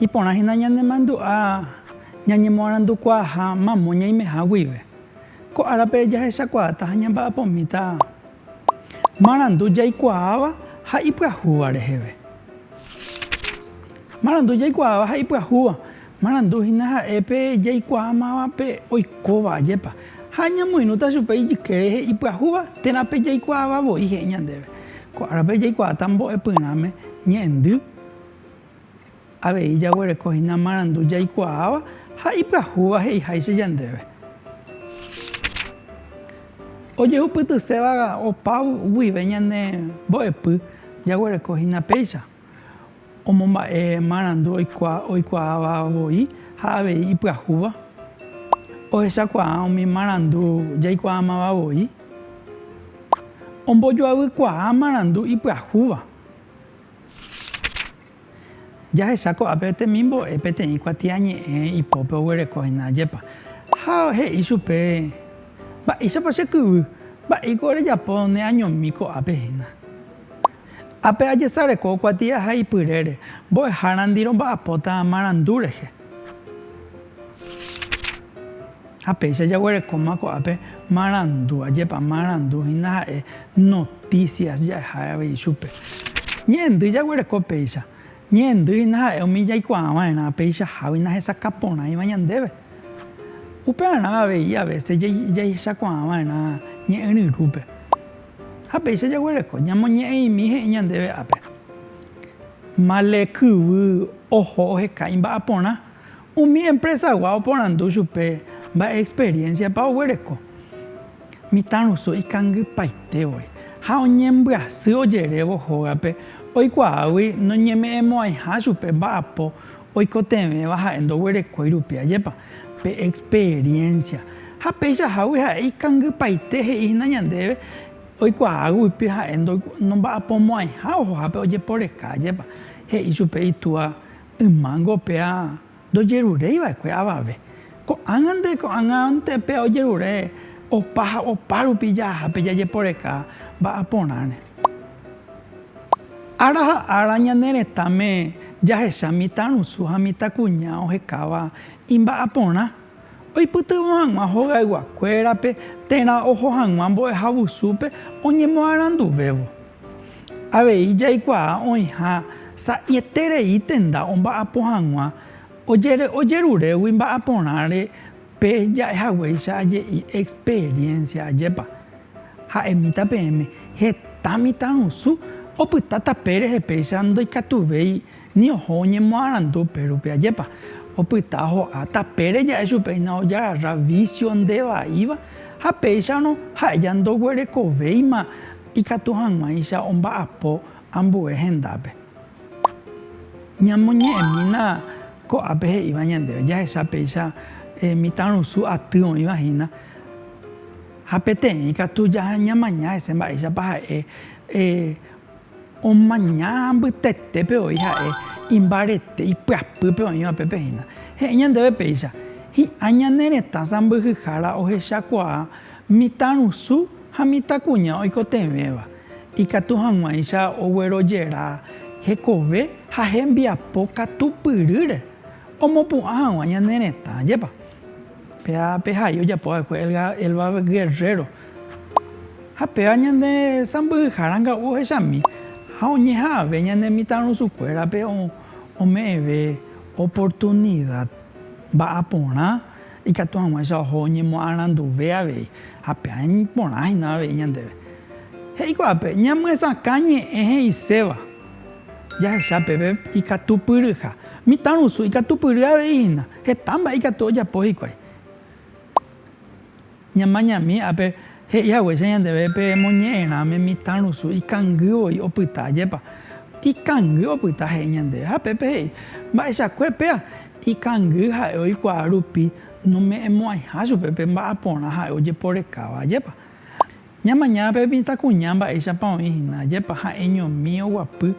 Iporã hína ñanemandu'a ñañemoarandukuaaha mamo ñaimeha guive. Ko árape jahechakuaáta ha ñamba'apomíta marandu jaikuaáva ha ipyahúva reheve. Marandu jaikuaáva ha ipyahúva, marandu hína ha'e pe jaikuaámavape oikóva ajépa, ha ñamoirũta chupe ijyke rehe ipyahúva térã pe jaikuaáva voi he'i ñandéve. Ko árape jaikuaáta mbo'epyrãme ñe'ẽndy. Avei jaguereko hína marandu jaikuaáva ha ipyahúva he'iháicha ñandéve. Ojehupytyséva opa guive ñane mbo'epy jaguereko hína péicha omomba'e marandu oikuaáva voi ha avei ipyahúva. Ohechakuaa umi marandu jaikuaámava voi. Ombojoaykuaa marandu ipyahúva. Jahecha ko'ápe temimbo'e peteĩ kuatiañe'ẽ ipópe oguereko hína ajépa. Ha he'i chupe, Mba'éichapa che kyvy? Mba'éiko orejapo neañomi ko'ápe hína? Ápe ajesareko kuatia ha ipyrére, mbo'ehárandi romba'apóta marandu rehe. Ha péicha jaguerekóma ko'ápe marandu, ajépa marandu hína ha'e noticias ja'eha avei chupe. Ñe'ẽndy jaguereko péicha. Ñe'ẽndy hína ha'e umi jaikuaava'erã peichahágui nahesakã porãiva ñandéve. Upearã avei a veces jahechakuaava'erã ñe'ẽ ryrúpe. Ha péicha jaguereko, ñamoñe'ẽimi he'i ñandéve ápe. Male kyvy oho oheka imba'aporã, Umi empresagua oporandu chupe mba'e experiencia-pa oguereko mitãrusu ikangypaitégui ha oñembyasy ojerévo hógape oikuaágui noñeme'ẽmo'ãiha chupe mba'apo oikotevẽva ha'e ndoguerekói rupi. Ajépa pe experiencia! Ha peichahágui ha'e ikangypaite he'íhina ñandéve oikuaáguipe ha'e ndomba'apomo'ãiha ohohápe ojeporeka. Ajépa! he'i chupe itúa Ymángo péa ndojeruréi va'ekue avave. Ko'ág̃a nde ko'ág̃ante péa ojerure opa ha opa rupi jahápe jajeporeka mba'á porãre. Ára ha ára ñane retãme jahecha mitãrusu ha mitãkuña ohekáva imba'aporã. Oipytyvõ hag̃ua hogayguakuérape térã oho hag̃ua mbo'ehavusúpe oñemoaranduvévo. Avei jaikuaa oĩha sa'ieterei tenda omba'apo hag̃ua ojerurégui mba'aporãre pe ja'ehaguéicha aje'i experiencia ajépa. Ha'emíta peẽme, heta mitãrusu opyta tape rehe péicha ndoikatuvéi Ni oho oñemoarandu upérupi. Ajépa opyta ho'a tapére ja'e chupehína ojararra vísio nde vaíva, ha péicharõ ha'eja ndoguerekovéima ikatu hag̃uáicha omba'apo ambue hendápe. Ñamoñe'ẽmína ko'ápe he'íva ñandéve, jahecha péicha mitãrusu aty oĩva hína, ha peteĩ katu ñamaña hese mba'éichapa ha'e Omaña mbytetépe voi ha'e imbarete ipyapýpe oĩva pépe hína. He'i ñandéve péicha, hi'ã ñane retã sãmbyhyhára ohechakuaa mitãrusu ha mitãkuña oikotevẽva, ikatu hag̃uáicha oguerojera hekove ha hembiapo katupyrýre omopu'ã hag̃ua ñane retã. Ajépa pehai ojapo va'ekue Elba Guerrero Ha péva ñande sãmbyhyha ranga'u ohechami ha oñeha'ãve ñane mitãrusukuérape ome'ẽve oportunida mba'ã porã ikatu hag̃uáicha oho oñemoaranduve avei ha péva porã hína avei ñandéve. He'i ko'ápe, Ñamyesakã ñe'ẽ he'iséva jahecha pépe ikatupyryha. Mitãrusu ikatupyry avei hína, heta mba'e ikatu ojapo hikuái. Ñamañami ápe, he'i haguéicha ñandéve pe moñe'ẽrãme mitã rusu ikangy voi opyta. Ajépa ikangy opyta he'i ñandéve? Ha pépe he'i, Mba'eichakue péa, ikangy ha'e oikuaa rupi nome'ẽmo'ãiha chupe pe mba'aporã ha'e ojeporekáva. Ajépa? Ña mañana pe mitãkuña mba'éichapa oĩ hína, ajépa ha'eñomi oguapy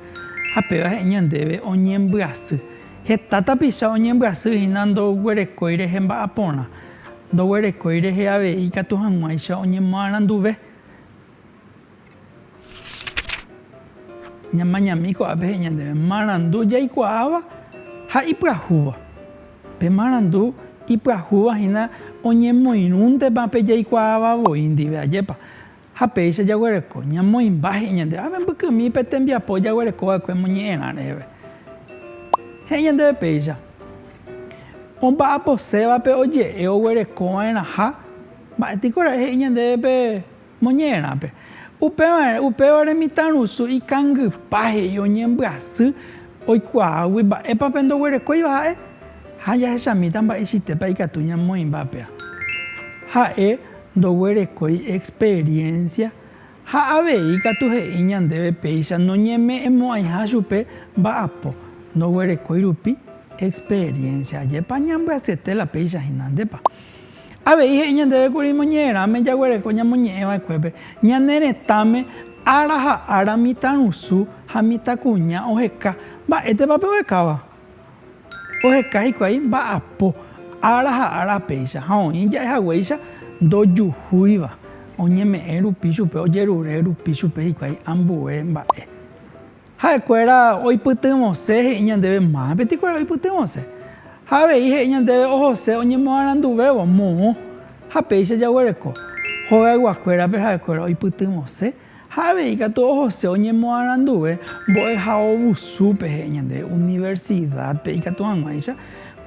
ha péva he'i ñandéve oñembyasy. Heta tapicha oñembyasy hína ndoguerekói rehe mba'aporã, ndoguerekói rehe avei ikatu hag̃uáicha oñemoaranduve. Ña mañami ko'ápe he'i ñandéve marandu jaikuaáva ha ipyahúva. Pe marandu ipyahúva hína oñemoirũntepa pe jaikuaáva voi ndive, ajépa? Ha péicha jaguereko ñamoĩmba he'i ñandéve, ha membykymi pe tembiapo jaguereko va'ekue moñe'ẽrã reheve. He'i ñandéve péicha, Omba'aposévape oje'e oguereko va'erãha, mba'étiko ra'e he'i ñandéve pe Moñe'ẽrãpe. Upévare, upévare mitãrusu ikangypa he'i oñembyasy oikuaágui mba'épa pe ndoguerekóiva ha'e, ha jahechamíta mba'eichaitépa ikatu ñamoĩmba péa. Ha'e ndoguerekói experiencia ha avei ikatu he'i ñandéve péicha noñeme'ẽmo'ãiha chupe mba'apo, ndoguerekói rupi experiencia. Ajépa ñambyasyete la péicha hína, ndépa? Avei he'i ñandéve kuri moñe'ẽrãme jaguereko ñamoñe'ẽ va'ekuépe, ñane retãme ára ha ára mitãrusu ha mitãkuña oheka. Mba'étepa pe ohekáva? Oheka hikuái mba'apo, ára ha ára péicha, ha oĩ ja'e haguéicha ndojuhúiva, oñeme'ẽ rupi chupe, ojerure rupi chupe hikuái ambue mba'e. Ha'ekuéra oipytyvõse he'i ñandéve máva peteĩkuéra oipytyvõse. Ha avei he'i ñandéve ohose oñemoaranduvévo moõ ha péicha jaguereko. Hogayguakuérape ha'ekuéra oipytyvõse ha avei katu ohose oñemoaranduve mbo'ehaovusúpe he'i ñandéve universidad-pe ikatu hag̃uáicha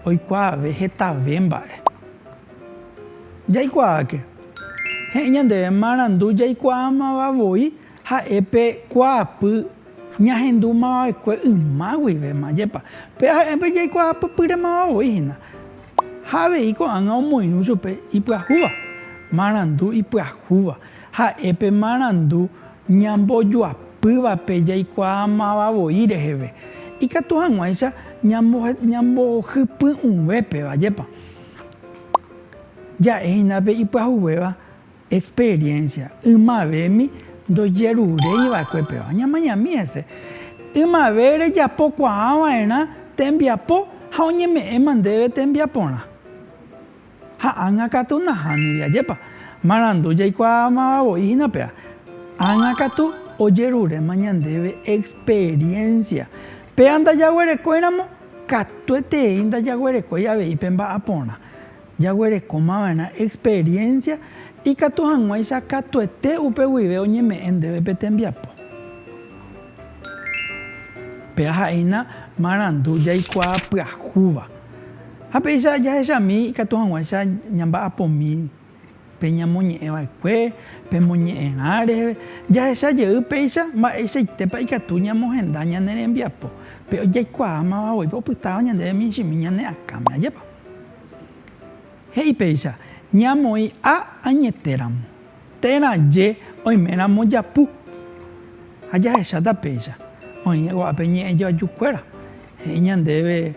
oikuaave hetave mba'e. Jaikuaáke. He'i ñandéve marandu jaikuaámava voi Ha'e pe kuaapy ñahendu mavavekue yma guivéma, jepa, pe ha'e pe jaikuaapypýre mava voi hína. Ha avei ko'ág̃a omoirũ chupe ipyahúva, marandu ipyahúva. Ha'e pe marandu ñambojoapývape jaikuaa mava voi reheve, ikatu hag̃uáicha ñambohypy'ũvépeva, jepa, ja'e hína pe ipyahuvéva. Experiencia, Ymavemi ndojeruréi va'ekue péva. Ñamañami hese. Ymave rejapo kuaa va'erã tembiapo ha oñeme'ẽma ndéve tembiaporã. Ha ág̃a katu nahániri. Ajépa! Marandu jaikuaamava voi hína péva. Ág̃a katu ojeruréma ñandéve experiencia. Péva ndajaguerekóiramo, katuetei ndajaguerekói avei pe mba'aporã. Jaguerekomava'erã experiencia ikatu hag̃uáicha katuete upe guive oñeme'ẽ ndéve pe tembiapo. Pe aha'éina marandu jaikuaa pyahúva. Ha péicha jahechami ikatu hag̃uáicha ñamba'apomi pe ñamoñe'ẽva'ekue, pe moñe'ẽrã reheve. Jahecha jey péicha mba'eichaitépa ikatu ñamohenda ñane rembiapo, pe jaikuaámavagui opytáva ñandéve michĩmi ñane akãme. Ajépa! He'i péicha, ñamoĩ a añetéramo, térã je oiméramo japu. Ha jahecháta péicha, oĩne ko'ápe ñe'ẽjoajukuéra. He'i ñandéve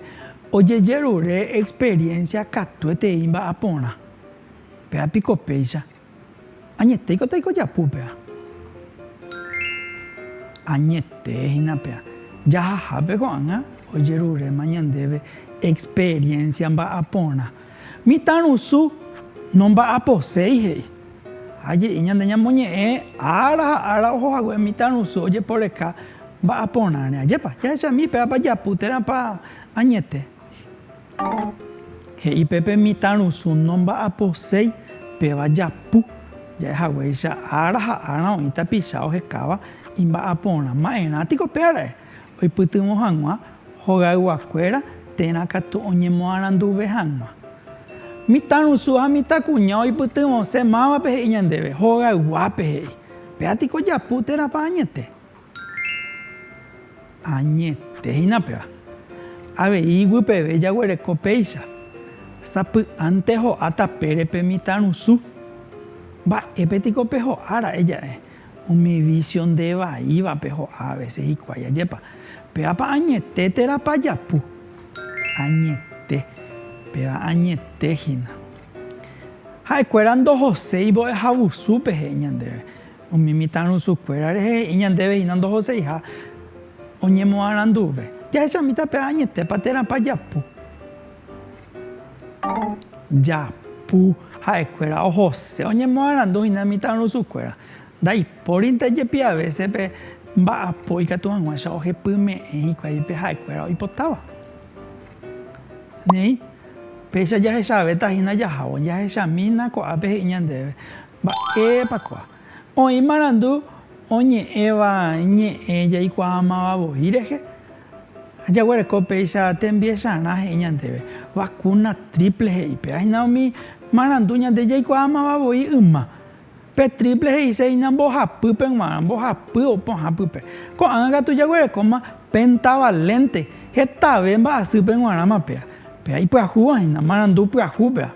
ojejerure experiénsia katuetei mba'aporã. Péva piko péicha Añetéiko taikojapu pea. Añete hína pea. Jahahápe ko'ág̃a ojeruréma ñandéve experiencia mba'aporã. Mitãrusu nomba'aposéi he'i. Ha je'i ñande ñamoñe'ẽ ára ha ára oho hague mitãrusu ojeporeka mba'aporãre. Ajépa, jahechami péva pajapu térãpa añete. He'i pe pe mitãrusu nomba'aposéi péva japu, ja'e haguéicha ára ha ára oĩ tapicha ohekáva imba'aporã. Ma'erã tiko pe ara'e oipytyvõ hag̃ua hogayguakuéra térã katu oñemoaranduve hag̃ua. Mitãrusu ha mitãkuña oipytyvõse mávape he'i ñandéve, hogayguápe he'i. Péa tiko japu térãpa añete? Añetéina péva, avei iguipeve jaguereko péicha, sapy'ánte ho'a tapére pe mitãrusu. Mba'épe tiko peho'a ra'e ja'e umi vísio nde vaívape ho'a avese hikuái? Ajépa, pévapa añete térãpa japu? Añete, péva añete hína. Ha'ekuéra ndohoséi mbo'ehavusúpe he'i ñandéve. Umi mitãrusukuéra rehe he'i ñandéve hína ndohoseiha oñemoaranduve. Jahechamíta pe añetépa térãpa japu. Japu ha'ekuéra ohose oñemoarandu hína mitãrusukuéra. Ndaipórinte jepi avése pe mba'apo ikatu hag̃uáicha ohepyme'ẽ hikuái pe ha'ekuéra oipotáva. Néi, péicha jahechavéta hína jahávo. Jahechamína ko'ápe he'i ñandéve Mba'épa kóa? Oĩ marandu oñe'ẽva ñe'ẽ jaikuaamava voi rehe, jaguereko péicha tembiesarã he'i ñandéve, vacuna triple he'i péva. Hína umi marandu ñande jaikuaamava voi yma. Pe triple he'ise hína mbohapýpe g̃uarã, mbohapy pohã pype. Ko'ág̃a katu jaguerekóma pentavalente, hetave mba'asýpe g̃uarãma péva. Péva ipyahúva hína, marandu pyahúpeva.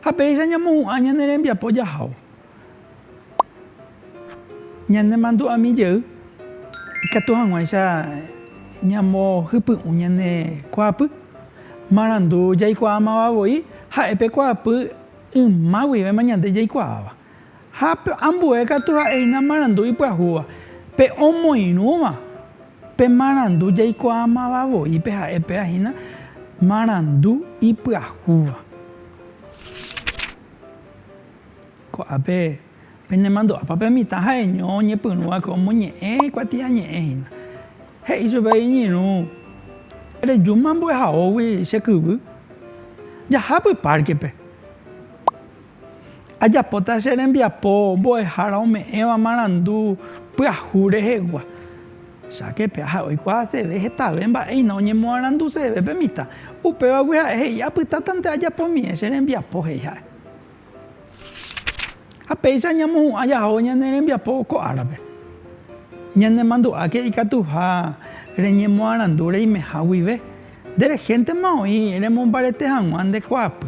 Ha péicha ñamohu'ã ñane rembiapo jahávo, ñanemandu'ami jey ikatu hag̃uáicha ñamohypy'ũ ñane kuaapy, marandu jaikuaámava voi ha'e pe kuaapy yma guivéma ñande jaikuaáva. Ha pe ambue katu ha'éina marandu ipyahúva. Pe omoirũva, pe marandu jaikuaamava voi pe ha'e péva hína marandu ipyahúva. Ko'ápe penemandu'ápa pe mitã ha'eño oñepyrũva ko omoñe'ẽ kuatiañe'ẽ hína. He'i chupe iñirũ, Rejúma ambuehaógui che kyvy. Jahápy párkepe. Ajapóta che rembiapo mbo'ehára ome'ẽva marandu pyahu rehegua. Cháke pe aja oikuaaseve hetave mba'éina oñemoaranduseve pe mitã. Upévagui ha'e he'i, Apytátante ajapomíe che rembiapo, he'i ha'e. Ha péicha ñamohu'ã jaho ñane rembiapo ko árape. Ñanemandu'áke ikatuha reñemoarandu reimeha guive, nde rehéntema oĩ remombarete hag̃ua nde kuaapy.